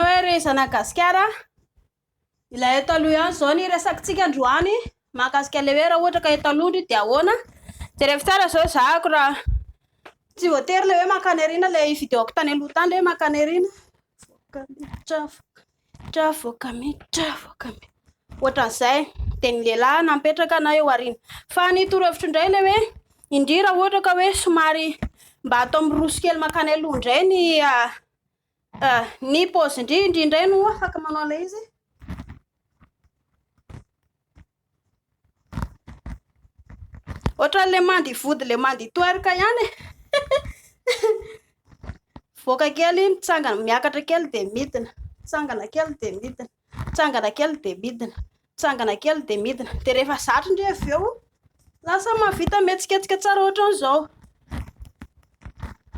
hoe ry zanak'i Gasikara, ilay eto aloha ihany izao ny resakintsika androany mahakasika ilay hoe raha ohatra ka eto aloha dia ahoana. Jereko tsara izao ezahako raha tsy voatery ilay hoe mankany aoriana ilay videoko tany aloha tany ilay hoe mankany aoriana. Miditra avoaka miditra avoaka miditra. Ohatran'izay dia ny lehilahy napetraka na eo aoriana. Fa ny torohevitro indray ilay hoe indria raha ohatra ka hoe somary mba atao miroso kely mankany aloha indray ny ny paozin-dry indrindray no afaka manao ilay izy. Ohatran'ilay mandy vody ilay mandy twerk ihany e. Mivoaka kely, mitsangana, miakatra kely dia midina. Mitsangana kely dia midina. Mitsangana kely dia midina. Mitsangana kely dia midina. Dia rehefa zatra indray avy eo, lasa mahavita mihetsiketsika tsara ohatran'izao.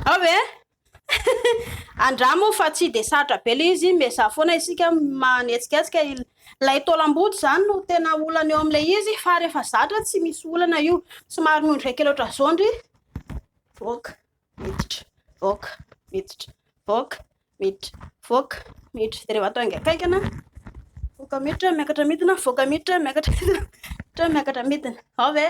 Ao ve? Andramo fa tsy dia sarotra be ilay izy, miezaha foana isika manetsiketsika, ilay taolam-boto izany no tena olana eo amin'ilay izy fa rehefa zatra tsy misy olana io, somary noho ny iray kilo trazondry, voaka, miditra, voaka, miditra, voaka, miditra, voaka, miditra, dia rehefa atao hainga kaingana, voaka miditra, miakatra midina, voaka miditra, miakatra midina, miakatra midina, ao ve?